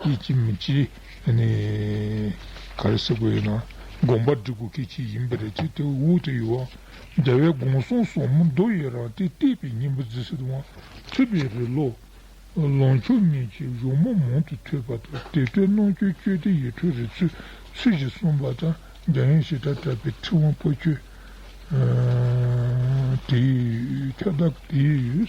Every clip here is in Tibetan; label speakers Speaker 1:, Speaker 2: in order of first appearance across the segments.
Speaker 1: སྐད་ཅིག་མི་གཅིག་གནས། ག་རེ་ཟེར་དགོས་ཡོད་ན། དགོངས་པ་འདྲི་དགོས་སྐད་ཅིག་ཡིན་པ་རེད་ཅེས་དེ་འུར་དུ་ཡོད། འདྲ་བའི་དགོངས་གསུང་སོགས་མི་འདོར་ཡོད་རང་སྟེ་གཏད་པའི་སྙིང་པོ་རྫི་སེ་དུ་འང་ཐོས་པའི་རི་ལོ། ལོངས་ཕྱོགས་གཉིས་ཀྱི་གཞུང་མང་མང་དུ་ཐོས་པ་དང་དེ་སྟོད་གནོང་ཁྱོད་བསྐྱོད་དེ་ཡེ་གྲོལ་རི་ཚུལ་ཚུལ་བཞིན་གསུངས་པ་དང་རྒྱ་ཡན་ཞི་དྲག་གྲགས་པའི་ཁྲི་དབང་པོ་ཆོས་དེའི་ཁྱབ་བདག་དེ་ཡོད།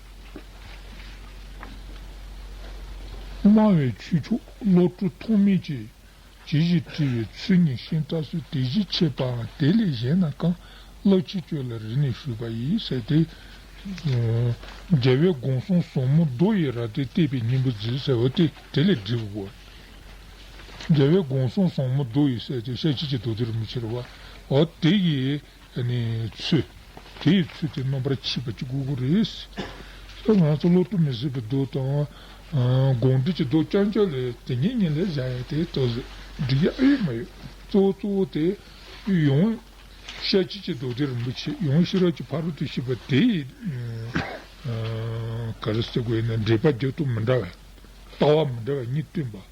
Speaker 1: སྨྲ་བའི་ཁྱུ་མཆོག་བློ་གྲོས་ཐོགས་མེད་ཀྱིས། ཇི་བཞིན་བཀྲི་བའི་ཚུལ་གཉིས་གཤེན་བཀྲ་གསོལ་དེ་བཞིན་འཆད་པའང་དེ་ལས་གཞན་ན་གང། བློ་ཆེ་ཁྱོད་ལ་རིག་ནས་ཞུས་པ་ཡིན་ཟེར་ཏེ། རྒྱལ་བའི་དགོངས་གསུང་ཟོག་མོ་རྡོ་ཡི་རྭ་སྟེ་བལྟས་པའི་སྙིང་པོ་མཛོད་ཟེར་བ་སྟེ་དེ་ལས་བསྒྲིབས་དགོས། རྒྱལ་བའི་དགོངས་གསུང་ཟོག་མོ་རྡོ་ཡི་ཟེར་ཏེ་ཤ་ཁྱི་ཀྱི་རྡོ་དེ་རུ་མི་ཁྱེར་བ། འོ་དེ་ཡི། ཚུལ། དེ་ཡི་ཚུལ་དེ་རྣམ་པར་མཁྱེན་པ་གཅིག་པུ་དགུ་རེད། ད་ང་ཚོ་བློ་གཏོད་མི་སྲིད་པའི་རྡོ་དང། དགོངས་འགྲེལ་གྱི་རྡོ་རྐྱང་རྐྱང་ལས་དེ་ཉིད་ཉིད་ལས་བཞག་ཡ་དེ་ལྟ་བུ་འགྲིག་ཡ་ཨེ་ཡོད་མ་ཡོད། གཙོ་བོ་གཙོ་བོ་དེ། ཡོངས། ཤ་སྐྱིད་ཀྱི་རྡོ་དེ་རིན་པོ་ཆེ་ཡོངས་ཤེས་རབ་ཀྱི་ཕ་རོལ་ཏུ་ཕྱིན་པ་དེ་ཡི། ག་རེ་ཟེར་དགོས་ཡིན་ན་འགྲེལ་པ་རྒྱབ་ཏུ་མི་འདྲ་བའི། ལྟ་བ་མི་འདྲ་བ་གཉིས་བཏོན་པ།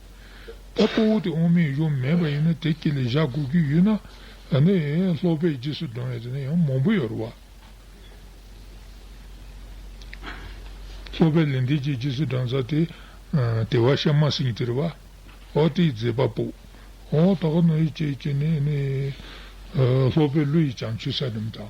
Speaker 1: ད་སྤོ་བོ་དེ་དབང་མེད་ཡོད་མེད་པ་ཡིན་ན་དེ་སྐད་ལས་བཞག་དགོས་ཀྱི་ཡོད་ན། ད་ནི་ལྷོ་པས་རྗེས་སུ་འབྲང་བའི་དེ་ནི་ཡང་མང་པོ་ཡོད་རེད་བ། ལྷོ་པས་ལས་འདི་ཅིག་རྗེས་སུ་འབྲང་ས་དེ། དེ་བ་ཤ་མ་ཟིན་གྱི་རེད་བ། ཨོ་དེའི་མཛད་པ་པོ། ཨོ་ད་ག་ནོ་ཡི་བྱེད་ཀྱི་ནི། ལྷོ་པས་ཀླུ་ཡི་བྱང་ཆུད་ས་རྣམས་དང།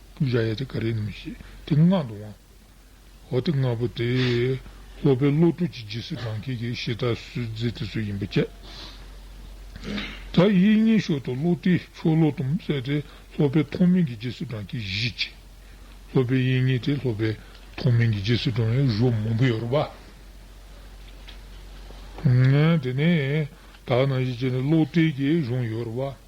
Speaker 1: ཀུ་བྱ་ཡ་དེ་ག་རེ་ནུས་ཞེས་དེ་མངལ་དུ་དབང། འོ་དེ་མངལ་པོ་དེས་སློབ་པའི་བློ་གྲོས་ཀྱི་རྗེས་སུ་འབྲང་མཁན་གྱི་གཞི་བདག་སུས་བརྫིས་དེ་སུ་ཡིན་པ་དཔྱད། ད་ཡིད་གཉིས་ཤོར་དུ་བློ་དེས་ཆོ་ལོ་དུམ་བསལ་ཏེ་སློབ་པའི་མཐོང་མིན་གྱི་རྗེས་སུ་འབྲང་མཁན་བཞི་བྱས། སློབ་པའི་ཡིད་གཉིས་དེ་སློབ་པའི་མཐོང་མིན་གྱི་རྗེས་སུ་འབྲང་བའི་གཞུ་མང་པོ་ཡོད་རོགས་པ། དེ་ནས་དག་སྣང་བཞི་བྱས་ནས་བློ་གཏད་ཀྱི་གཞུང་ཡོད་རོགས་པ།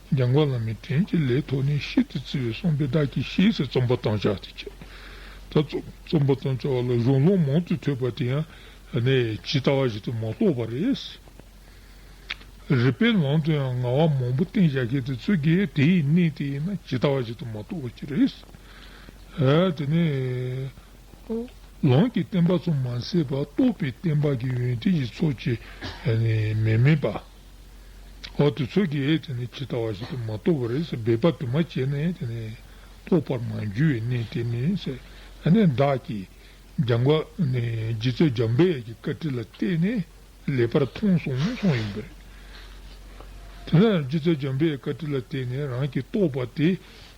Speaker 1: འཇམ་མགོན་བླ་མའི་དྲིན་གྱི་ལས་ཐོག་ནས་ཤིན་ཏུ་བརྩི་བའི་གསུང་དཔེ་དག་གིས་ཤེས་སུ་རྩོམ་པ་བཏང་བྱ་སྟེ་བྱས། ད་རྩོམ་པ་བཏང་བྱ་བ་ལ་གཞུང་ལུགས་མང་དུ་ཐོས་པ་དེ་ཡང་ཇི་ལྟ་བ་བཞིན་དུ་མ་རྟོགས་པ་རེད། རིགས་པའི་ལམ་དུ་ཡང་ང་བ་མང་པོ་བསྟན་བྱ་མཁན་དེ་ཚོས་ཀྱང་དེ་ཡི་གནད་དེ་ཡིན་ན་ཇི་ལྟ་བ་བཞིན་དུ་མ་རྟོགས་པ་ཅི་རེད། དེ་ནས་ལམ་གྱི་བསྟན་པ་ཚོ་མ་ཟད་པར་རྟོགས་པའི་བསྟན་པ་གྱི་ཡོན་ཏན་གྱི་ཚོགས་ཀྱིས་མི་དམན་པ། འོག་ཏུ་ཚོད་ཀྱིས་ཇི་ལྟ་བ་བཞིན་དུ་མ་རྟོགས་པར་སྦས་པ་དུ་མ་བྱས་ནས་རྟོགས་པར་མ་འགྱུར་བའི་གནས་དེ་ནི་བདག་གིས་སྦྱངས་པ་རྗེ་བཙུན་འཇམ་དཔལ་གྱི་བཀའ་དྲིན་ལ་བརྟེན་ནས་ལེགས་པར་མཐོང་གསུངས་ཡིན་པས། རྗེ་བཙུན་འཇམ་དཔལ་བཀའ་དྲིན་ལ་བརྟེན་ནས་རང་གིས་རྟོགས་པ་དེ་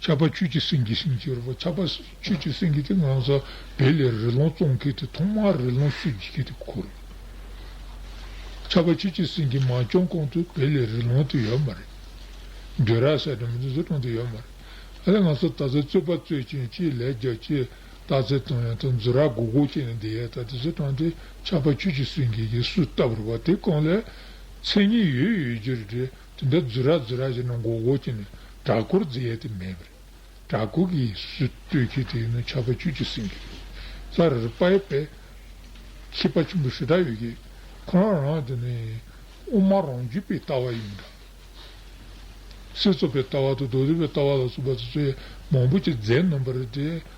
Speaker 1: ཆར་པ་ཆོས་ཀྱི་སེང་གེ་ཞིང་བཅུ་རུ་པ་ཆར་པ་ཆོས་ཀྱི་སེང་གེ་དེ་ངང་ས་བལ་ལས་རི་ལོང་བཙོང་མཁན་དེ་ཐོག་མར་རི་ལོང་གསོད་བགྱིད་མཁན་དེ་ཁོ་རེད། ཆར་པ་ཆོས་ཀྱི་སེང་གེ་མ་བྱོན་གོང་དུ་བལ་ལས་རི་ལོང་དེ་ཡོད་མ་རེད། འདོད་ར་ས་དེ་མི་ཚེ་བཟོ་གྲང་དེ་ཡོད་མ་རེད། ཨ་ལས་ང་ཚོ་ད་ལྟ་རྩོད་པ་རྩོད་ཀྱིན་ཅི་ལས་རྒྱ་ཆེ་རྟགས་རྩལ་སྟོན་ཡང་དང་རྫུ་ར་གོ་གོ་བྱས་ནས་བསྡད་ཡས་ད་དེ་བཟོ་གྲང་དེ་ཆར་པ་ཆོས་ཀྱི་སེང་གེ་གིས་སུས་བཏབ་རུ་པ་དེ་གང་ལས་མཚན་ཉིད་ཡོད་ཡོད་རྒྱུར་འདྲེ་དེ་འདྲ་རྫུ་ར་རྫུ་ར་བྱས་ན་མགོ་བོ་སྐྱེས་ནས་དྲག་སྐོར་རྫི་ཡས་དེ་མེད་པ་རེད། དྲག་སྐོར་གྱི་སུས་བཏུལ་ཁྱི་དེ་ཡིན་ན་ཆར་པ་བཅུ་གཅིག་ཟིན་གྱི་རེད། ས་རེར་པ་ཡོད་པས་ཁྱི་པ་ཆེན་པོ་ཞེ་དྲག་ཡོད་གྱི། ཁོ་རང་རང་དེ་ནི་དབུ་མ་རང་རྒྱུད་པའི་ལྟ་བ་ཡིན་འདྲ། སྲིད་ཚོགས་པའི་ལྟ་བ་དང་རྡོ་རིལ་བའི་ལྟ་བ་ལ་སོགས་པ་ཚོ་ཚོས་མང་པོ་ཅིག་རྫས་སྣོན་པ་རེད་དེ་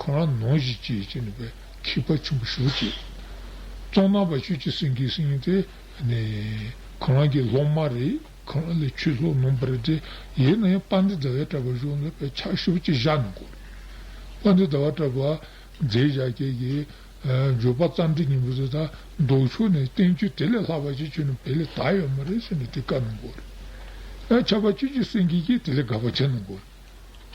Speaker 1: ཁོང་རང་ནོངས་བཞིན་བཅས་བྱས་ནས་པའི་མཁས་པ་ཆེན་པོ་ཞུགས་ཀྱིས། གཙང་ནག་པ་ཆོས་ཀྱི་སེང་གེའི་སེང་སྟེ། ཁོང་རང་གི་སློབ་མ་རེ་ཁོང་རང་ལས་ཆོས་ལྷུག་ནོངས་པ་རེ་སྟེ། ཡིན་ནའི་པ་འདི་ཟླ་བའི་གྲྭ་པ་ཞུགས་ནས་པའི་ཕྱག་ཞུབ་ཅིག་བཞག་ནས་བསྐོར། པ་འདི་ཟླ་བ་གྲྭ་པ་མཛེས་བཞག་ཁྱེད་ཀྱིས། འགྱོད་པ་རྩམ་དྲི་ཉིན་པོ་ཟེར་ད་མདོག་ཕྱུག་ནས་བསྟན་བཅོས་དེ་ལས་ལྷག་པ་ཅིག་བྱོས་ནས་པའི་ལས་ད་ཡོད་མ་རེད་ཟེར་ནས་དེ་བཀག་ནས་བསྐོར། ཁྱབ་པ་ཆོས་ཀྱི་སེང་གེ་ཁྱེད་དེ་ལས་དགའ་བ་བྱས་ནས་བསྐོར།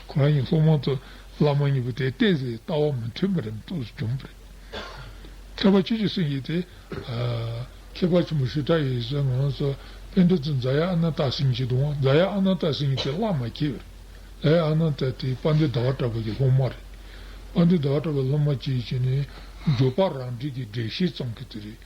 Speaker 1: གང་ཡིན་སློབ་མ་ཚོས་བླ་མ་གཉིས་པོ་དེ་བལྟས་ཚེ་ལྟ་བ་མི་མཐུན་པ་རེ་མི་ཐུག་བྱུང་བ་རེད། མཁས་པ་ཁྱེད་ཀྱི་གསུང་གིས་དེ། མཁས་པ་ཆེན་པོ་ཞུ་དག་ཡོད་ཟེར་ངོ་སོ། དཔེ་འདི་ཚོ་རྫ་ཡ་ཨ་ན་ཏཱ་སིང་གཅིག་དང་རྫ་ཡ་ཨ་ན་ཏཱ་སིང་གཉིས་དེ་བླ་མ་ཁྱེད་རེད། རྫ་ཡ་ཨ་ན་ཏཱ་དེ་དཔའ་འདུལ་ཟླ་བ་གྲགས་པ་ཀྱི་སློབ་མ་རེད། དཔའ་འདུལ་ཟླ་བ་གྲགས་པའི་སློབ་མ་གཅིག་བྱས་ནས། འགྱོད་པ་རང་འགྲིག་གི་འགྲེལ་བཤད་ཙམ་གྱི་དེ་རེད།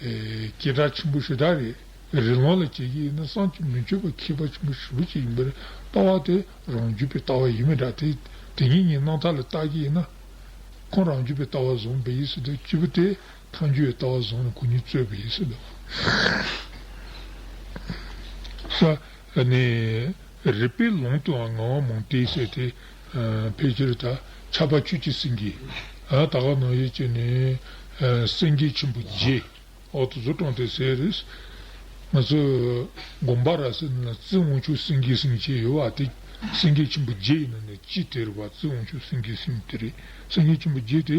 Speaker 1: སྐྱེས་གྲགས་ཆེན་པོ་ཞེ་དྲག་རེད། རི་ལུང་ལ་བྱེད་ཀྱི་ཡིན་ན་སངས་ཀྱིས་མི་ཆོད་པ་མཁས་པ་ཆེན་པོ་ཞེ་པོ་ཅིག་ཡིན་པར་ལྟ་བ་དེ་རང་རྒྱུད་པའི་ལྟ་བ་ཡིན་མི་དྲག་དེ་དེ་ཉིད་ཉིད་སྣང་མཐའ་ལ་བརྟག་གི་ཡིན་ན། ཁོང་རང་རྒྱུད་པའི་ལྟ་བ་བཟུང་བས་ཡིད་སྲིད་དོ་སྐྱིད་པོ་དེ་ཐང་རྒྱུད་ཡི་ལྟ་བ་བཟུང་ནས་གུ་ཉིད་རྩོད་བས་ཡིད་སྲིད་དོ། ས་ནས། རིག་པའི་ལུང་དུའང་ངང་བ་མུན་ཏིག་བསྲེགས་ཏེ། ཕལ་ཆེར་དག་ཆགས་པ་ཆོས་ཀྱི་སེང་གེ། ད་གའ་ནོར་ཡོད་ཅེས་ནི། སེང་གེ་ཆེན་པོ་རྗེ། འོག་ཏུ་གཟུགས་སྟོང་ཐེག་སེ་རེས། ང་ཚོས་དགོངས་པ་ར་སེ་ན་རྩི་དབང་ཕྱུག་སེང་གེའི་སེང་ཅེས་ཡོད་པ་དེ་སེང་གེ་ཆེན་པོ་རྗེ་ཡིན་ན་ནི་ཅི་སྟེར་བ་རྩི་དབང་ཕྱུག་སེང་གེའི་སེང་དེ་རེད། སེང་གེ་ཆེན་པོ་རྗེ་དེ་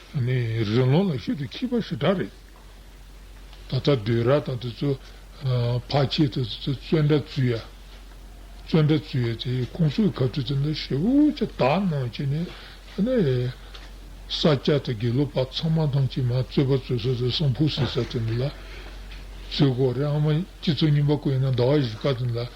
Speaker 1: རི་ལུང་ལ་ཤུལ་དུ་འཁྱིལ་པ་ཞེ་དྲག་རེད། ད་ལྟ་དུས་རབས་དང་དུས་ཚོད་བར་ཆད་དུ་བཙོན་འདྲ་བཙུད་ཡ། བཙོན་འདྲ་བཙུད་ཡ་དེ་ཁོང་ཚོའི་ཁ་ཕྲུ་ཚོ་འདྲ་ཞེ་བོ་ཆ་དག་གནང་བྱས་ནས་ས་སྐྱ་དང་དགེ་ལུགས་པ་ཚང་མ་ཐང་ཆེན་མ་བཙོད་པ་བཙོད་ས་ཚོ་སྲང་ཕུག་ཟེར་ས་དེ་འདྲ་ལ་བཙོད་ཁོག་རེད་ཨ་མ་སྤྱི་ཚོགས་རྙིང་པ་བཀོད་ཡོད་ན་ཟླ་བ་བཞི་ཀ་དེ་འདྲ་ལ་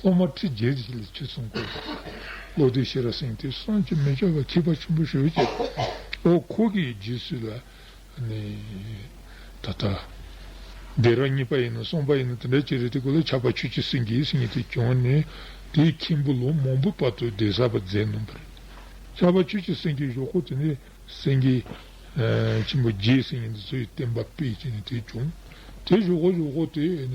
Speaker 1: སློབ་མ་ཁྲི་བརྒྱད་ཀྱིས་ལས་ཆོད་གསུམ་བསྐོར། བློ་གྲོས་ཤེས་རབ་སེང་གེས་གསང་སྤྱོད་མི་ལྕོགས་པ་ཁྱད་པར་ཆེན་པོ་ཞུ་ཅེས་པའོ། འཁོར་གྱི་རྗེས་སུ་ལ་ནི། ད་ལྟ། སྡེ་ར་གཉིས་པ་ཡིན་ནམ་གསུམ་པ་ཡིན་ནམ་དེ་འདྲ་ཅི་རེད་དེ་ཀུ་ལ་ཆགས་པ་ཆོས་ཀྱི་སེང་གེའི་སེང་གེ་དེ་བྱོན་ནས་དེའི་མཁན་པོ་ལོ་མང་པོའི་བར་དུ་སྡེ་གསར་པ་མཛད་མྱོང་པ་རེད། ཆགས་པ་ཆོས་ཀྱི་སེང་གེའི་ཞོག་ཁོག་དེ་ནས་སེང་གེ། ཆེན་པོ་རྒྱའི་སེང་གེ་འདི་ཚོ་ཡི་བསྟན་པ་སྤེལ་ཅེས་ནས་དེ་བྱུང། དེའི་ཞོག་ཁོག་ཞོག་ཁོག་དེ་ནས།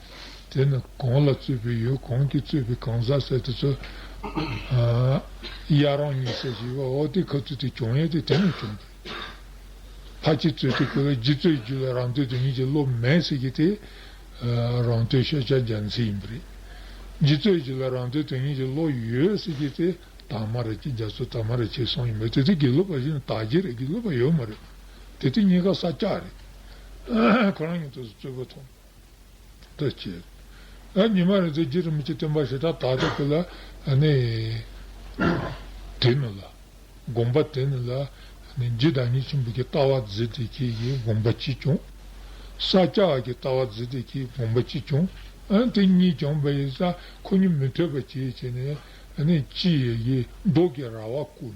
Speaker 1: དེ་ནི་གང་ལ་རྩོད་པའི་ཡོད་གང་གིས་རྩོད་པའི་གང་ཟག་བསལ་དུ་རྩོད། དབྱར་རང་ཉིད་བསལ་ཞེས་པ་འོག་སྡེའི་ཁ་རྩོད་དེ་བྱུང་ཡས་དེ་དེ་ནས་བྱུང་སྟེ། ཕ་གཅིག་རྩོད་དེ་ཁོ་བས་རྗེ་བཙུན་གྱི་རྒྱུད་ལ་རང་བསྟོད་དེ་ཉིད་ཀྱི་སློབ་མས་ཟེར་གྱི་དེ། རང་བསྟོད་ཤ་ཆ་རྒྱ་མཚན་ཡིན་པ་རེད། རྗེ་བཙུན་གྱི་རྒྱུད་ལ་རང་བསྟོད་དེ་ཉིད་ཀྱི་སློབ་ཡོད་ཟེར་གྱི་དེ། དག་མ་རེད་ཀྱི་རྒྱ་མཚོ་དག་མ་རེད་བྱས་སོང་ཡིན་པས་དེ་དེ་དགེ་ལུགས་པ་བཞིན་དག་རྗེ་རེད་དགེ་ལུགས་པ་ཡོད་མ་རེད། དེ་དེ་གཉིས་ཀ་ས་སྐྱ་རེད། ཁོ་རང་ཉིད་དུ་རྩོད་པོ་མཐོང། དུ་བྱེད། ཉི་མ་རེ་ཟད་རྗེས་སུ་མི་ཆད་སྟོན་པ་ཞེ་དྲག་དག་ཏུ་གྱུར་ལ། དེ་ནི་ལ། དགོངས་པ་དེ་ནི་ལ། རྗེ་བདག་ཉིད་ཆེན་པོ་ཀྱི་ལྟ་བ་མཛད་དེ་ཁྱེད་ཀྱིས་དགོངས་པ་ཅི་བྱུང། ས་སྐྱ་བ་ཀྱི་ལྟ་བ་མཛད་དེ་ཁྱེད་ཀྱིས་དགོངས་པ་ཅི་བྱུང། དེ་གཉིས་ཀྱང་བས་ས་ཁོ་གཉིས་མི་ཐོས་པར་བྱས་བྱས་ནས། ཅི། མདོག་གི་ར་བ་བསྐུར།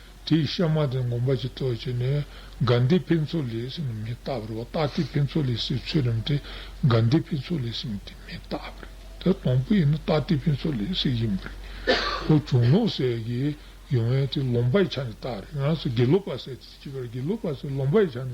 Speaker 1: དེའི་གཤའ་མ་དེ་ངོམ་པ་ཅིག་ཏོག་བྱས་ནས་དགའ་ལྡན་ཕུན་ཚོགས་ལས་སེམས་ནི་མི་རྟག་པར་བ་རྟག་སྟེ་ཕུན་ཚོགས་ལས་སེམས་ཚོལ་རམ་དེ་དགའ་ལྡན་ཕུན་ཚོགས་ལས་སེམས་དེ་མི་རྟག་པར་དེ་དང་པོ་ཡིན་ན་རྟག་སྟེ་ཕུན་ཚོགས་ལས་སེམས་ཡིན་པར་རིགའོ། བྱུང་ལོང་བསལ་གྱི་ཡོན་བས་དེ་ལོང་པའི་ཆ་ནས་རྟག་རེད་ཡང་ས་དགེ་ལོག་པ་བསལ་དེ་བྱས་པར་དགེ་ལོག་པ་བསལ་ལོང་པའི་ཆ་ནས་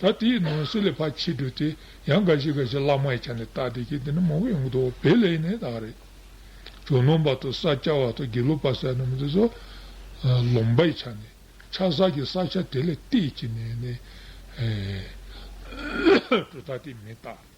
Speaker 1: ད་དེ་ཡི་ནང་གསེས་ལས་ཕར་ཕྱིས་འགྲོ་དེ་ཡང་འགའ་ཞིག་འགའ་ཞིག་བླ་མ་ཡི་ཆ་ནས་བཏགས་དེ་ཁྱེད་དེ་འདྲ་མང་པོ་ཡོང་གི་འདུག་བེད་ལས་ནི་དག་རེད། ཇོ་ནང་པ་དང་ས་སྐྱ་བ་དང་དགེ་ལུགས་པ་ཟེར་ནམ་དེ་ཚོ། ལོང་པ་ཡི་ཆ་ནས། ཆ་བསགས་ཀྱི་བསགས་ཆ་དེ་ལས་གཏད་ཀྱི་ནས་ནས། གྲུ་ཐག་དེ་མི་བཏགས།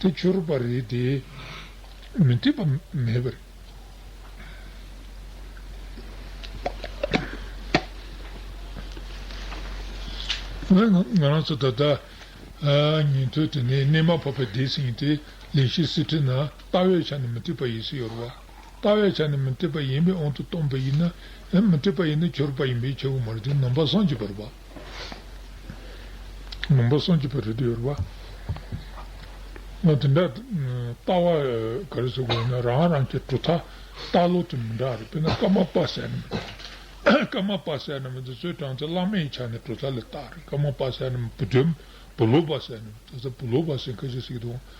Speaker 1: དེ་འཆོར་བ་རེད་དེ། མི་འཐད་པ་མེད་པ་རེད། ང་རང་ཚོ་ད་ལྟ་ཉན་ཐོས་དེ་ནི་གནས་མ་བབ་པའི་སྡེ་ཟིན་ཡིན་ཏེ་ལེགས་ཤེས་སྲིད་ཁྲི་ན་ལྟ་བའི་ཆ་ནས་མི་འཐད་པ་ཡིན་སྲིད་ཡོད་རེད། ལྟ་བའི་ཆ་ནས་མི་འཐད་པ་ཡིན་པའི་དབང་དུ་སྟོན་པ་ཡིན་ན། མི་འཐད་པ་ཡིན་ན་འཆོར་བ་ཡིན་པའི་ཆོས་ཀྱི་མ་རིག་དེ་ནང་པ་སངས་ཀྱི་བར་པ། མང་པོ་སངས་རྒྱས་པའི་རིགས་ཡོད་པ། དེ་འདྲ་ལྟ་བ་ག་རེ་ཟེར་དགོས་ན་རང་རང་གི་གྲུབ་མཐའ་ལྟ་ལོག་དེ་མི་འདྲ་རེད། དཔེར་ན་ཀརྨ་པ་ཟས་རྣམས་དང། ཀརྨ་པ་ཟས་རྣམས་དེ་ཚོའི་གྲངས་ཚད་བླ་མ་ཡི་ཆ་ནས་གྲུབ་མཐའ་ལས་ལྟ་རེད། ཀརྨ་པ་ཟས་རྣམས་བུ་དོན་བུ་ལོག་པ་ཟས་རྣམས་དེ་ཚོ་བུ་ལོག་པ་ཟས་འགའ་ཞིག་སྲིད་དོ།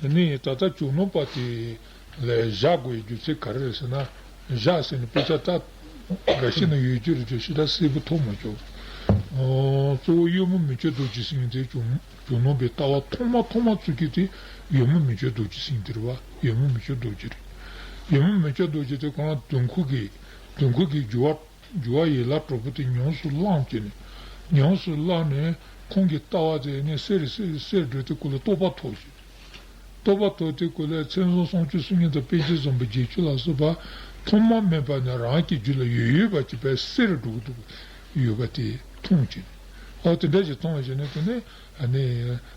Speaker 1: དེ་ནས་ད་ལྟ་བྱུང་ནོ་པ་དེ་ལས་བཞག་དགོས་པའི་རྒྱུ་ཚད་ག་རེ་རེད་ཟེར་ན། བཞག་ཟེར་ནས་དཔེ་ཆ་ཏག་ཏག་འགའ་ཤས་ནི་ཡོད་རྒྱུ་རེད་ཅེས་ཞེ་དྲག་གསལ་པོ་མཐོང་མ་བྱུང། གཙོ་བོ་གཡོ་མོ་མི་ཆོས་རྡོ་རྗེ་སེང་གེ་དེའི་བྱུང་ནོ་པའི་ལྟ་བ་ཐོག་མ་ཐོག་མ་ཚུགས་རྒྱུ་དེ་གཡོ་མོ་མི་ཆོས་རྡོ་རྗེ་སེང་གེ་དེ་རེད་བ། གཡོ་མོ་མི་ཆོས་རྡོ་རྗེ་རེད། གཡོ་མོ་མི་ཆོས་རྡོ་རྗེ་དེ་ཁོ་རང་དུད་འཁོར་གྱི་དུད་འཁོར་གྱི་རྒྱུ་བ། འགྱུར་བ་ཡིད་ལ་གྲོགས་པོ་དེ་ཉམས་སུ་བླངས་ཀྱིས་ནི། ཉམས་སུ་བླངས་ནས་ཁོང་གི་ལྟ་བ་དེ་ནི་གསེར་གསེར་འགྲོས་དེ་ཀུན་ལ་རྟོགས་པ་ཐོགས་ཤིག། རྟོགས་པ་ཐོགས་དེ་ཀུན་ལས་མཚན་གསུམ་སྲོང་བཅུ་སུམ་ཉི་དང་དཔེ་བྱད་ཟུམ་པ་བརྒྱད་ཅུ་ལ་སོགས་པ་ཐོག་མ་མེད་པ་ནས་རང་གི་རྒྱུད་ལ་ཡོད་ཡོད་པ་གཅིག་པའི་གསེར་འགྲོ་གི་འདུག་གི་ཡོད་པ་དེ་མཐོང་ཀྱིས་ནི། ཨོ་དེ་འདྲ་ཞིག་མཐོང་བ་ཞིག་ནི་དེ་ནི་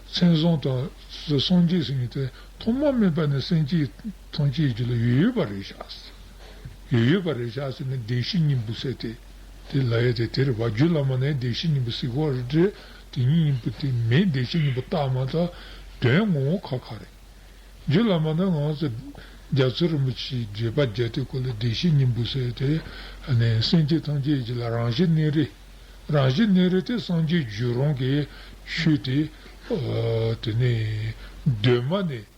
Speaker 1: མཚན་གསུམ་དང་སྲོང་བཅུ་སུམ་ཉི་དེ་ཐོག་མ་མེད་པ་ནས་སེམས་ཅན་ཐམས་ཅད་ཀྱི་རྒྱུད་ལ་ཡོད་ཡོད་པ་རེད་བཞག། ཡོད་ཡོད་པ་རེད་བྱ་ཟེར་ནས་བདེ་གཤེགས་སྙིང་པོ་བསད་དེ། དེ་ལ་ཡོད་དེ་དེར་བ་རྒྱུད་བླ་མ་ནས་བདེ་གཤེགས་སྙིང་པོ་གཟིགས་པར་འདྲི། དེ་ཉིད་སྙིང་པོ་དེ་མིན་བདེ་གཤེགས་སྙིང་པོ་བཏགས་མ་ཐག་དོན་ངོ་བོ་ཁ་ཁ་རེད། རྒྱུད་བླ་མ་ནས་ང་ཚོ་རྒྱ་མཚོ་རིན་པོ་ཆེའི་བརྗོད་པ་བརྒྱད་དེ་གོ་ལ་བདེ་གཤེགས་སྙིང་པོ་བསད་དེ། སེམས་ཅན་ཐམས་ཅད་ཀྱི་ལ་རང་བཞིན་གནས་རི། རང་བཞིན་གནས་རི་དེ་སངས་རྒྱས་རྒྱུད་རང་གི་ཆོས་དེ། དེ་ནས་གདོད་མ་ནས།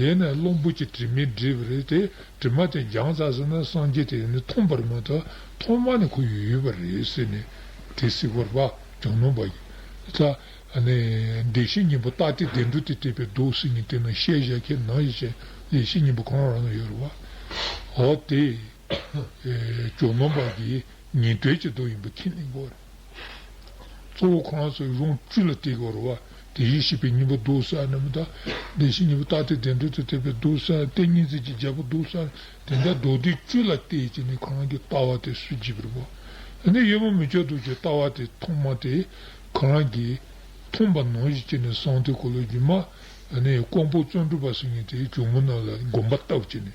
Speaker 1: ཡེ་ནས་བློ་འབུལ་གྱི་དྲི་མས་བསྒྲིབས་པ་རེད་དེ། དྲི་མ་དེ་སྦྱང་ཚར་ཟིན་ན་སངས་རྒྱས་དེ་ནི་ཐོམ་པར་མ་ཐག་ཐོག་མ་ནས་ཁོ་ཡོད་པ་རེད་ཟེར་ནས། དེ་གཟིགས་པར་པ་གྱང་ནོམ་པ་ཡིན། ད་ནི་བདེ་གཤེགས་སྙིང་པོ་རྟག་བདེ་བདེ་འགྲོ་དེ་བསྐྲད་པའི་རྡོ་ཟེར་ཉིད་དེ་ནང་བཤད་བཞག་ཁྱེད་ནང་བཞིན་བྱས་ན་བདེ་གཤེགས་སྙིང་པོ་གང་རང་ན་ཡོད་རེད་བ། འོ་དེ། གྱང་ནོམ་པ་འདི་ཉིད་དོལ་གྱི་རྡོ་ཡིན་པ་ཁྱེད་ནི་མགོ་རེད། གཙོ་བོ་གང་ཟག་གི་རང་བཅུད་ལ་བརྟེན་པར་རོ། དེ་བཞིན་གཤེགས་པའི་སྙིང་པོ་རྡོར་བསལ་རྣམས་དང། དེ་བཞིན་གཉིས་པོ་རྟག་སྟེ་བདེ་འགྲོ་དང་བྲལ་བའི་རྡོར་བསལ་ཏེ་གཉིས་འཛིན་གྱི་རྒྱལ་པོ་རྡོར་བསལ་ནི་དེ་འདྲ་རྡོ་རྗེའི་བཅུད་ལ་བརྟེན་ཅིང་ནི་གང་གིས་ལྟ་བ་དེ་སུ་བགྱིད་པར་བག། འདི་ནི་ཡོད་མ་མི་བྱ་རྡོ་རྗེའི་ལྟ་བ་དེ་ཐོག་མ་སྟེ། གང་གིས་མཐོང་པ་ནང་བཞིན་བྱས་ནས་གསང་མཐའི་འཁོར་ལོའི་སྒྱུ་མ། ཀོང་པོ་བརྩོན་འགྲུས་པ་སེང་གེ་དེའི་གྱོ་མོ་རྣམས་ལ་བསྒོམ་པ་བཏབ་ཅིང་ནི།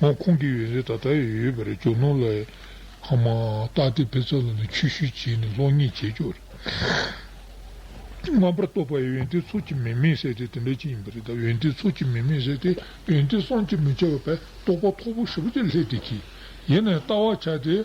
Speaker 1: ངོ་ཁོང་གིས་ཡོད་ཚད་ད་ལྟ་ཡོད་ཡོད་པ་རེད་ཇོ་ནང་ལ་ཁང་མང་བཏགས་ཏེ་བེ་ཚ་ལ་ནས་ཆུ་ཤུལ་བྱས་ནས་གློག་བརྙན་བྱས་ཆོག་རེད། རྣམ་པར་རྟོག་པ་ཡོན་ཏན་ཚོགས་ཀྱི་མི་མེད་ཟེར་དེ་དེ་འདྲ་ཅིག་ཡིན་པ་རེད་ད་ཡོན་ཏན་ཚོགས་ཀྱི་མི་མེད་ཟེར་དེ་ཡོན་ཏན་སངས་ཀྱིས་མི་བྱ་བ་བས་རྟོག་པ་མཐོ་པོ་ཧྲིལ་པོ་དེ་ལྷད་དེ་གྱིས་ཡེ་ནས་ལྟ་བར་བྱ་སྟེ།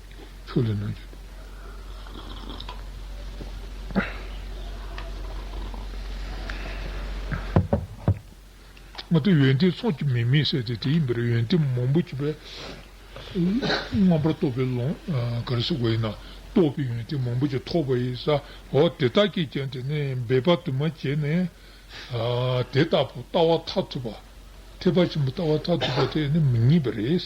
Speaker 1: ཆུ་ལས་སྣོད་ཀྱི། མ་ཏི་ཡོན་ཏན་ཚོགས་ཀྱི་མིང་མི་གསལ་ཏེ་དེའི་འདིར་ཡོན་ཏན་མང་པོ་བྱེད་པས། རྣམ་པར་རྟོག་པའི་ཀློང་གར་སེལ་བ་ཡིན་ན། རྟོག་པའི་ཡོན་ཏན་མང་པོ་ཅིག་ཐོབ་པ་ཡིན་སའོ། དེ་དག་གིས་ཀྱང་དེ་ནི་འབད་པ་དུ་མ་བྱས་ནས། དེ་ལྟ་བུ་ལྟ་བ་མཐར་ཐུག་པ། ཐེག་པ་ཆེན་པོ་ལྟ་བ་མཐར་ཐུག་པ་དེ་ནི་མི་རྙེད་པ་རེད།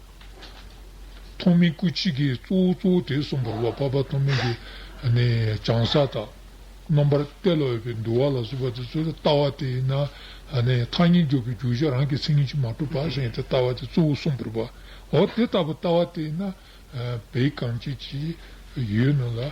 Speaker 1: ཐོགས་མེད་སྐུ་གཅིག་གིས་གཙོ་བོ་གཙོ་བོ་དེ་གསུངས་པར་བ་པ་པ་ཐོགས་མེད་ཀྱི་བྱང་ས་དག། རྣམ་པར་བལྟས་ལ་འོས་པའི་འདུལ་བ་ལ་གཟུགས་པ་དེ་ཚོར་ལྟ་བ་དེ་ཡིན་ན། ཐ་སྙད་འཇོག་པའི་རྒྱུ་ཆ་རང་གི་མཚན་ཉིད་ཀྱིས་མ་གྲུབ་པ་གཞན་དེ་ལྟ་བ་དེ་གཙོ་བོ་གསུངས་པར་བའོ། དེ་ལྟ་བུ་ལྟ་བ་དེ་ཡིན་ན། བའི་གང་བྱེད་ཀྱི་ཡུལ་རྣམས་ལ།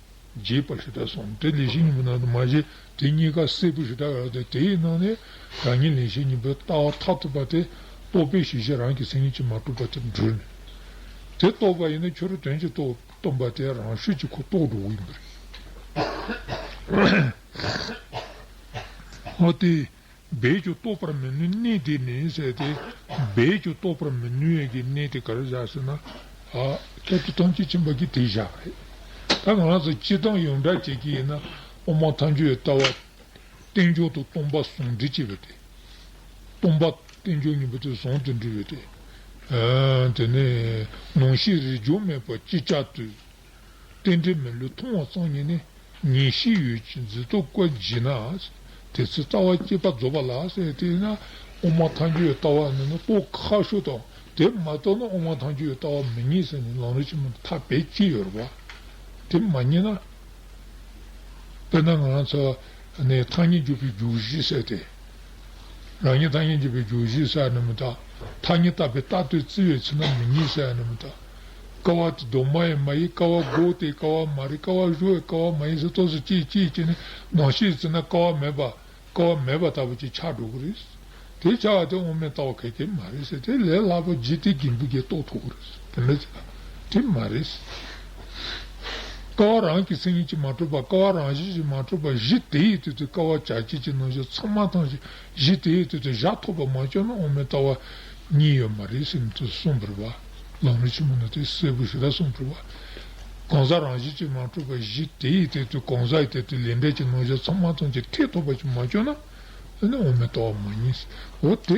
Speaker 1: རྗེས་དཔག་ཧྲི་ཏྲ་སོང་དེ་ལས་བཞི་གཉིས་པོ་ནང་དུ་མ་བཞེད་དེ་གཉིས་ཀ་སྲད་བུ་ཧྲི་ཏྲ་ཡོད་དེ་དེའི་ནང་ནས་བདག་ཉིད་ལས་བཞི་གཉིས་པོའི་ལྟ་བ་མཐའ་ཐུབ་པ་དེ་རྟོགས་པའི་གཞི་ཤེས་རང་གི་སེམས་ཉིད་ཀྱིས་མ་གྲུབ་པ་དེར་འདྲུལ་ནས། དེ་རྟོགས་པ་ཡིན་ན་ཁྱོད་རོ་དོན་གྱི་རྟོག་སྟོན་པ་དེ་རང་ཤུགས་ཀྱིས་ཁོ་རྟོགས་འགྲོ་འོས་པ་རེད། འོ་དེ། རྦད་ཀྱིས་རྟོགས་པར་མི་ནུས་གནས་དེ་ནི་ཟད་དེ། རྦད་ཀྱིས་རྟོགས་པར་མི་ནུས་ཡས་ཀྱི་གནས་དེ་ག་རེ་བཞག་ཟེར་ན། ཀྱྀ་ཏི་ཐམས་ཅད་མཁྱེན་པ་ཀྱི་དེ་བཞག་རེད། ད་གང་ལགས་སོ་སྤྱི་དང་ཡོངས་གྲགས་བྱེད་ཀྱི་ཡིན་ན། དབུ་མ་ཐམས་ཅད་ལྟ་བ། རྟེན་འབྱུང་དང་སྟོང་པ་ཟུང་འབྲེལ་བྱེད་པའི་དེ། སྟོང་པ། རྟེན་འབྱུང་གཉིས་པོ་དེ་ཟུང་དུ་འབྲེལ་བའི་དེ། དེ་ནི། ནང་ཤེས་རིག་འབྱུང་མེད་པ་ཅི་ལྕགས་དུས། རྟེན་འབྲེལ་མི་ལུས་མཐོང་བ་གཙང་ཉིད་ནི། ངེས་ཤེས་ཡོད་ཀྱི་མཛེས་རྟོག་བཀོད་བགྱིད་ན། དེ་ཚེ་རྩ་བ་སྐྱེས་པ་རྫོགས་པ་ལགས། དེས་ན་དབུ་མ་ཐང་ཆོད་ལྟ་བ་ནི་ནི་པོ་ཁ་ཤོ་དང། དེ་མ་རྟོགས་ན་དབུ་མ་ཐང་ཆོད་ལྟ་བ་མི་རྙེད་ཟེར་ནས་ལང་རོ་ཆེན་པོ་ཐ་བད་ཀྱིས་ཡོད་རེད་བ། དེ་མ་རྙེད་ན། དཔེར་ན་ང་རང་ཚོ་ནི་ཐང་ཉིད་འཇུག་པའི་རྒྱུ་བཞི་ཟེར་ཏེ། རང་ཉིད་ཐང་ཉིད་འཇུག་པའི་རྒྱུ་བཞི་ཟེར་ནི་མི་རྟག། ཐང་ཉིད་རྟག་པའི་རྟག་ཏུ་བརྩི་བའི་ཚེ་ན་མི་རྙེད་ཟེར་ནི་མི་རྟག། ཀ་བ་དེ་གདོད་མ་ཡིན་མ་ཡིན་ཀ་བ་སྒོག་དེ་ཀ་བ་མ་རེད་ཀ་བ་བཞུ་བའི་ཀ་བ་མ་ཡིན་ཟེར་སྟོང་ཟེར་གཅིག་གཅིག་བྱས་ནས་ནང་ཤེས་བཙལ་ན་ཀ་བ་མེད་པ་ཀ་བ་མེད་པ་ལྟ་བུ་ཅིག་ཆགས་འགྲོ་གི་རེད། དེ་ཆགས་བ་དེ་དབང་མེད་ལྟ་བ་གལ་ཏེ་མ་རེད་ཟེར་དེ་ལས་སླ་པོ་ཇི་སྟེ་རྒན་བུ་འགས་རྟོགས་ཐུབ་གི་རེད་དེ་འདྲ་བྱས་ན་དེ་མ་རེད། ཀ་བ་རང་གི་སེམས་ཉིད་ཅིག་མ་གྲུབ་པར་ཀ་བ་རང་བཞིན་ཅིག་མ་གྲུབ་པར་གཞི་དེ་ཡི་དུས་དེ་ཀ་བ་བྱ་བྱེད་ཀྱི་རྣམ་གཞག་ཚང་མ་ཐང་ཞིག་གཞི་དེའི་སྟེང་དུ་བཞག་ཐོགས་པ་མ་བཅོས་ན་དབུ་མའི་ལྟ་བ་གཉིས་ཡོད་མ་རེད་ཟེར་མཐུས་གསུངས་པར་བ་ལང་རིན་ཆེན་པོ་ནི་དེ་གསལ་པོ་ཞིག་ལ་གསུངས་པར་བ། གང་ཟག་རང་བཞིན་གྱིས་མ་གྲུབ་པ་གཞི་དེའི་སྟེང་དུ་གང་ཟག་གི་ཐད་དུ་ལས་འབྲས་ཀྱི་རྣོ་གཞག་ཚང་མ་ཙམ་གྱི་ཐེག་ཐོགས་པ་ཞིག་མ་བཅོས་ན་དེ་ནི་དབུ་མའི་ལྟ་བ་མ་ཡིན། འོ་དེ།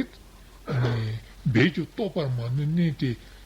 Speaker 1: འབད་ཀྱིས་རྟོགས་པར་མ་ནུས་གནས་དེ།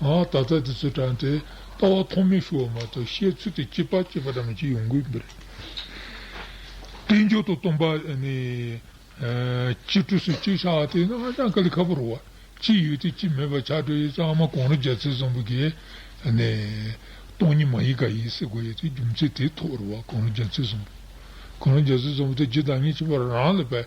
Speaker 1: ད་ལྟ་དེ་ཚོའི་དྲན་ཏེ་ལྟ་བ་ཐོགས་མེད་ཞུ་བ་མ་གཏོགས་བཤད་ཚུལ་དེ་སྐྱིད་པ་སྐྱིད་པ་འདྲ་མིན་ཞིག་ཡོང་གི་མི་རེད། གཏན་འཇགས་ཏུ་སྟོང་པ་གཅིག་གྲུ་ཟུར་གཅིག་ཆགས་དེ་ནི་ཧ་ཅང་ག་ལི་ཁ་པོ་རེད། གཅིག་ཡོད་དེ་གཅིག་མེད་པ་ཆགས་གྲུ་ཡིན་ཙང་མ་གོང་རི་རྒྱལ་ཚེ་བཟང་པོ་གིས་སྟོང་ཉིད་མ་ཡིན་ག་ཡིན་ཟེར་དགོས་ཡོད་དེ་རྒྱུ་མཚན་དེའི་ཐོག་རེད་བ་གོང་རི་རྒྱལ་ཚེ་བཟང་པོ། གོང་རི་རྒྱལ་ཚེ་བཟང་པོ་དེ་ཇི་ལྟ་ངེས་ཅི་བར་རང་ལ་བལྟ་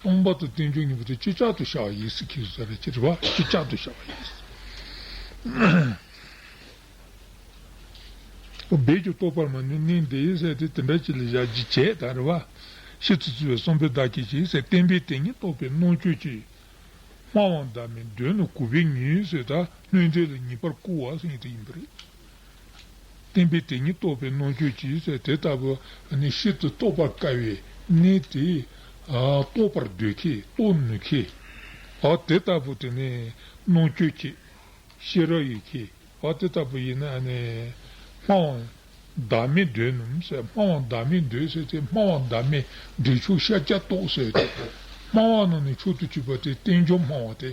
Speaker 1: སྟོང་པ་དང་རྟེན་འབྱུང་གཉིས་པོ་དེ་ཅི་ལྕགས་ཏུ་བྱ་བ་ཡིན་སྲིད་ཁས་བཟའ་བའི་ཕྱིར་རོ། ཅི་ལྕགས་ཏུ་བྱ་བ་ཡིན་སྲིད། རྦད་ཀྱིས་རྟོགས་པར་མ་ནུས་ནི་འདི་ཡིན་སྲིད་དེ་དེ་འདྲ་ཅི་ལ་བྱ་ཅི་བྱེད་དང་རེ་བ། ཤེས་ཚུལ་བརྩི་བའི་གསུམ་པོས་བདག་གིས་ཅི་ཡིན་སྲིད་བསྟན་པའི་དེ་ཉིད་རྟོགས་པའི་གནོང་འགྱོད་ཀྱིས། སྨྲ་བའང་བདག་མིན་དོན་ནི་གུས་པས་ཉོན་ཡིན་སྲིད་དང་ལྷུན་གྲུབ་ལ་ངེས་པར་བསྐུར་བ་སྲིད་ཡིན་པ་རེད། བསྟན་པའི་དེ་ཉིད་རྟོགས་པའི་གནོང་འགྱོད་ཀྱིས་དེ་ལྟ་བུ་ནི་ཤིན་ཏུ་རྟོགས་པར་དཀའ་བའི་གནས་ཏེ། རྟོགས་པར་འདོད་ཁས་རྟོགས་ནུས་ཁས། དེ་ལྟ་བུ་དེ་ནི་གནོང་འགྱོད་ཀྱི། ཤེས་རབ་ཡི་ཁས། དེ་ལྟ་བུ་ཡིན་ན་ནི། སྨྲ་བ། བདག་མེད་འདོད་ནི། སྨྲ་བ་བདག་མེད་འདོད་ཟེར་ཏེ་སྨྲ་བ་བདག་མེད་འདོད་ཕྱོགས་ཤཱཀྱ་རྟོགས་ཟེར་ཏེ། སྨྲ་བ་རྣམས་ནི་མཆོག་ཏུ་གྱུར་པ་སྟེ་བསྟན་འབྱུང་སྨྲ་བ་སྟེ།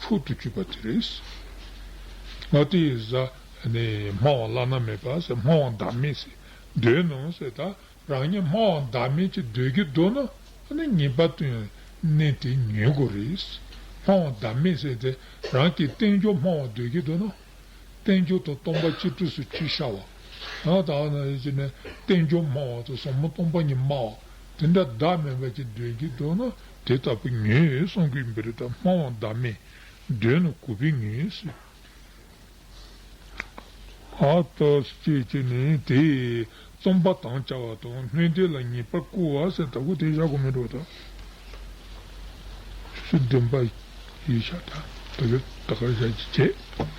Speaker 1: ཕུལ་དུ་བྱུང་བ་དེ་རེད། ང་དེ་ཡི་གཟའ་ནི་སྨྲ་བ་བླ་ན་མེད་པ་ཟེར་སྨྲ་བ་བདག་མེད་ཟེར་འདོད་ནོ་ཟེར་ད་རང་ཉིད་སྨྲ་བ་བདག་མེད་ཅེས་འདོད་ཀྱི་འདུག་ན་ནི་ངེས་པ་དོན་གནད་དེ་ཉོན་དགོས་རེད། སྨྲ་བ་བདག་མེད་ཟེར་ཏེ་རང་གིས་བསྟན་བཅོས་སྨྲ་བར་འདོད་ཀྱི་འདུག་ན། བསྟན་བཅོས་དང་སྟོང་པ་གཅིག་ཏུ་སུ་གཅིག་ཤར་བ། ད་ལྟ་ནི་བསྟན་བཅོས་སྨྲ་བ་དང་ཟབ་མོ་སྟོང་པ་ཉིད་སྨྲ་བ་དེ་འདྲ་བདག་མེད་པ་ཅེས་འདོད་ཀྱི་འདུག་ན་དེ་ལྟ་བུ་ཉོན་ཡོད་གསང་གུས་འབུལ་དང་སྨྲ་བ་འདའ་མེད་འདོད་ན་གུས་པས་ཉོན་ཡོད་སྲིད། ཨ་ཏོས་ཅེས་བྱས་ནས་དེས་རྩོམ་པ་དང་བཅའ་བ་དང་སྣོད་དེ་ལ་ངེས་པར་བསྐུར་བ་སེ་ད་གུ་དེ་བཞག་གོ་མི་འགྲོ་ད་ཆུ་ཚོད་བདུན་པ་ཡིན་ཤག་ད་ད་གར་བཞག་ཅི་བྱེད།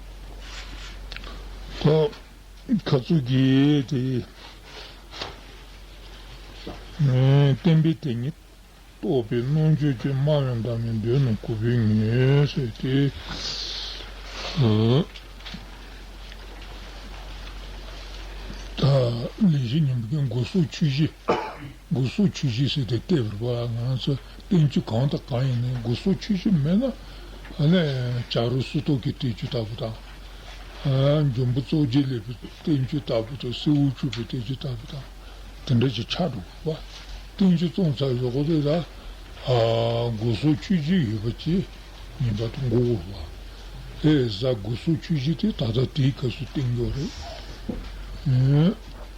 Speaker 1: ཁ་ཚུགས་ཀྱི་དེ་བསྟན་པའི་དེ་ཉིད་རྟོགས་པའི་རྣོ་འགྱོད་ཀྱི་སྨྲ་བའི་འདབ་མའི་མདུན་ནས་གུས་པས་ངེས་བྱས་ཏེ། ལས་བཞི་ཉིན་མོ་དགུ་གསུམ་ཆུ་བཞི། དགུ་གསུམ་ཆུ་བཞི་ཟེར་ཏེ་ལྟེ་བར་པ་ང་ཚོ་བསྟན་ཚུལ་གང་དང་གང་ཡིན་ནི་སྒོ་ཟོག་ཆོས་ཆོས་མེད་ན། བྱ་རུ་སུ་ཏོག་གི་བསྟན་བཅོས་ལྟ་བུ་དང། འབྱུང་པོ་གཙོ་རྒྱལ་ལེགས་པའི་བསྟན་བཅོས་ལྟ་བུ་དང་སྲི་འུ་ཆུ་པའི་བསྟན་བཅོས་ལྟ་བུ་དང། དེ་འདྲ་ཅིག་ཆགས་འགྲོ་དགོས་པ། བསྟན་བཅོས་བཙོང་ཚར་བའི་འོག་ཏུ་ད་སྒོ་ཟོག་ཆོས་ཆོས་ཡོད་པ་ཅི་ཡིན་པ་དང་མགོ་བོར་བ། ཧེ་བཟའ་སྒོ་ཟོག་ཆོས་ཆོས་དེ་ད་ལྟ་དེའི་སྐབས་སུ་བསྟན་བཅོས་རེད།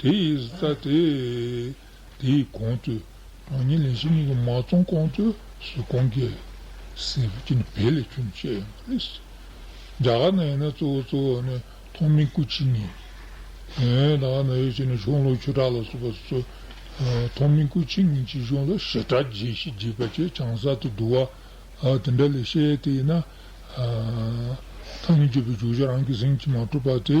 Speaker 1: དེ་ཡིས་རྩ་དེ། དེ་ཡིས་གོང་ཚོས་རང་ཉིད་ལས་གཞན་གཉིས་ཀྱིས་མ་བཙོངས་གོང་ཚོས་སུ་གོང་རྒྱལ། སྲས་བུ་གཅིག་ནི་བལ་ལས་བྱུང་བཅས་ཡོད་པ་རེད། རྒྱ་གར་ནང་ཡིན་ན་གཙོ་བོ་གཙོ་བོ་ནི་ཐོག་མའི་སྐུ་ཕྱི་ཉིན། ད་ག་ནང་ཡོད་ཅེ་ན་གཞུང་ལུགས་ཆོས་གྲགས་ལ་སོགས་པ་སུ། ཐོག་མའི་སྐུ་ཕྱི་ཉིན་གྱི་གཞུང་ལུགས་ཞི་དྲག་རྒྱས་ཤིང་རྒྱས་པ་བཅས་བྱང་གསར་དུ་བསྡུ་བ། དེ་འདྲ་ལས་བཤད་དེ་ཡིན་ན། ཐ་སྙད་གཅོད་པའི་བརྗོད་བྱ་རང་གི་གཟིངས་ཀྱིས་མ་གྲུབ་པ་དེ།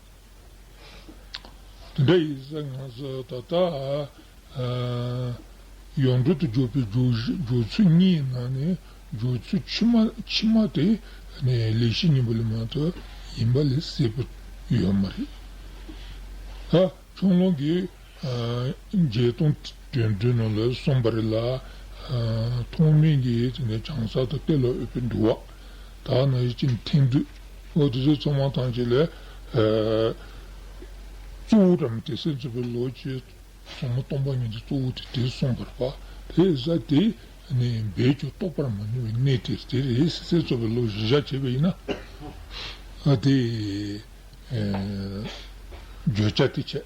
Speaker 1: དེ་འདྲ་ཡིན་ས་ང་ཚོ་ད་ལྟ་ཡོངས་གྲོལ་དུ་འཇུག་པའི་སྦྱོར་ཚུལ་གཉིས་ནང་ནས་སྦྱོར་ཚུལ་ཕྱི་མ་དེ་ནི་ལས་བཞི་གཉིས་པ་ལས་མ་གཏོགས་ཡིན་པ་ལས་སྲིད་པ་ཡོད་མ་རེད། ད་ཕྱོགས་སྔོན་གྱི་བརྒྱད་སྟོང་དོན་བདུན་ནོ་ལ་གསུངས་པ་རེད་ལ། ཐོག་མེད་ཀྱི་བྱང་ས་དང་གཏེར་ལ་འོས་པའི་འདུལ་བ་དག་ནི་ཡིད་ཀྱི་མཐིང་རྡུལ། འོ་དེ་ཚོ་ཚང་མ་ཐམས་ཅད་ལས། གཙོ་བོ་བྲམ་ཟེ་སྲས་མཛོད་པའི་ལོ་བཅུའི་སོ་མ་སྟོང་པ་ཉིད་དུ་གཙོ་བོ་དེ་དེ་གསུངས་པར་བ་དྷེ་ས་དེ་ནི་འབད་ཀྱིས་རྟོགས་པར་མ་ནུས་པའི་གནས་དེར་དེ་རེས་སྲས་མཛོད་པའི་ལོ་བཞི་ཞག་བྱས་པ་ཡིན་ན། དེས་བརྗོད་བྱ་དེ་བྱས།